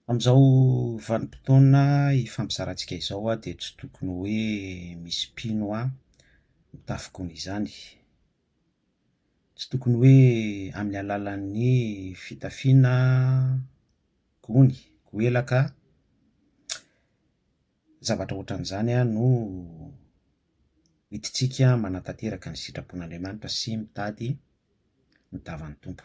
Amin'izao vanim-potoana ifampizarantsika izao aho dia tsy tokony hoe misy mpino ahy mitafy gony izany. Tsy tokony hoe amin'ny alalan'ny fitafiana gony, goelaka, zavatra ohatran'izany no hidintsika manatanteraka ny sitrapon'Andriamanitra sy mitady ny tavan'ny Tompo.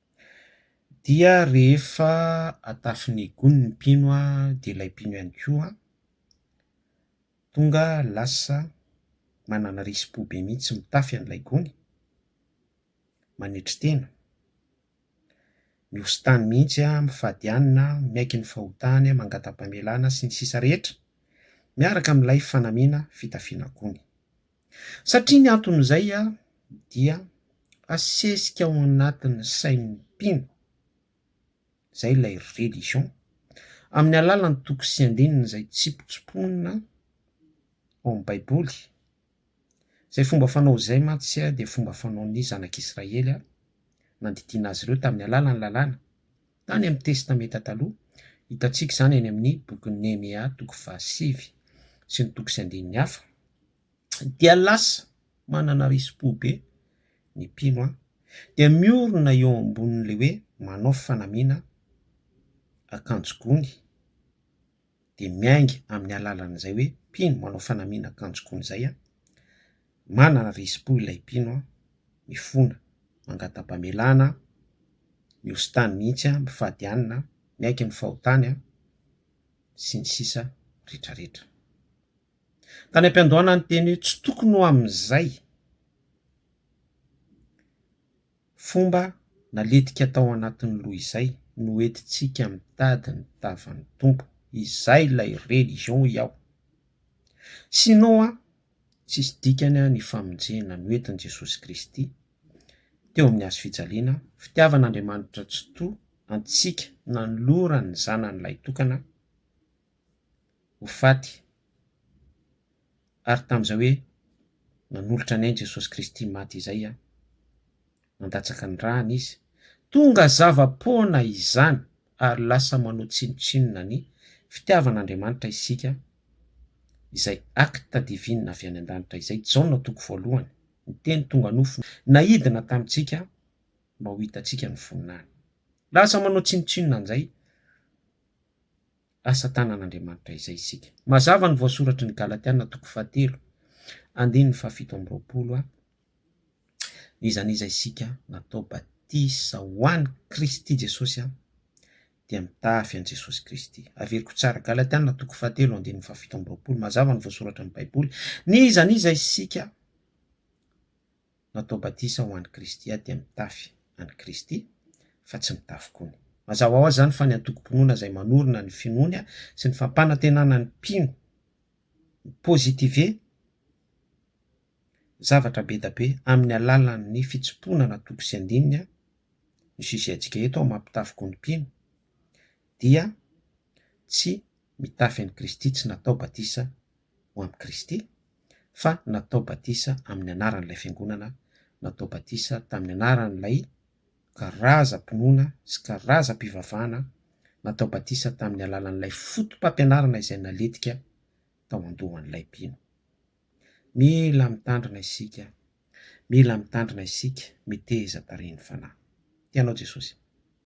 dia rehefa atafin'ny gony ny mpino dia ilay mpino ihany koa tonga lasa manana risi-po be mihitsy mitafy an'ilay gony, manetry tena, mihositany mihitsy an, mifady hanina, miaiky ny fahotany, mangata-pamelana sy ny sisa rehetra miaraka amin'ilay fanamiana fitafiana gony. Satria ny anton'izay dia asesika ao anatin'ny sain'ny mpino izay ilay religion amin'ny alalan'ny toko sy andininy izay tsipotsipoina ao amin'ny baiboly. Izay fomba fanao izay mantsy dia fomba fanaon'ny zanak'Israely nandidiana azy ireo tamin'ny alalan'ny lalàna. Tany amin'ny Testamenta Taloha, hitantsika izany any amin'ny bokin'i Nehemia toko fahasivy sy ny toko sy andininy hafa, dia lasa manana risi-po be ny mpino, dia miorina eo ambonin'ilay hoe manao fanamiana akanjo gony dia miainga amin'ny alalan'izay hoe mpino manao fanamiana akanjo gony izay aho, manana risi-po ilay mpino aho, mifona, mangata-pamelana aho, mihoso tany mihitsy aho, mifady hanina aho, miaiky ny fahotany aho, sy ny sisa retraretra. Tany am-piandohana niteny hoe tsy tokony ho amin'izay. Fomba naletika tao anatin'ny loha izay no hoentintsika mitady ny tavan'ny Tompo, izay ilay religion i Ao. Sinon an, tsisy dikany an ny famonjena noentin'i Jesosy Kristy teo amin'ny hazo fijaliana, fitiavan'Andriamanitra tsitoha antsika nanolorany ny Zanany lahitokana ho faty. Ary tamin'izay hoe nanolotra ny ainy Jesosy Kristy maty izay aho, nandatsaka ny rany Izy, tonga zava-poana izany ary lasa manao tsinontsinona ny fitiavan'Andriamanitra isika, izay acte divine avy any an-danitra izay, Jaona toko voalohany, ny Teny tonga nofo naidina tamintsika mba ho hitantsika ny voninahiny. Lasa manao tsinontsinona an'izay asa tanan'Andriamanitra izay isika. Mazava ny voasoratry ny Galatiana toko fahatelo andininy fahafito amby roapolo a Izany iza isika natao batisa ho an'i Kristy Jesosy a dia mitafy an'i Jesosy Kristy. Averiko tsara, Galatiana toko fahatelo andininy fahafito amby roapolo, mazava ny voasoratra ny Baiboly, ny izan'iza isika natao batisa ho an'i Kristy aho dia mitafy an'i Kristy fa tsy mitafy gony. Mazava ho azy izany fa ny antokom-pinoana izay manorina ny finoany sy ny fampanantenana ny mpino mi-positive zavatra be da be amin'ny alalan'ny fitsimpoana na toko sy andininy ny sujet antsika eto amin'ny maha-mpitafy gony mpino dia tsy mitafy an'i Kristy, tsy natao batisa ho amin'i Kristy, fa natao batisa amin'ny anaran'ilay Fiangonana, natao batisa tamin'ny anaran'ilay karazam-pinoana sy karazam-pivavahana, natao batisa tamin'ny alalan'ilay fotopampianarana izay naletika tao an-dohan'ilay mpino. Mila mitandrina isika, mila mitandrina isika, miteheza tarihin'ny Fanahy. Tianao Jesosy.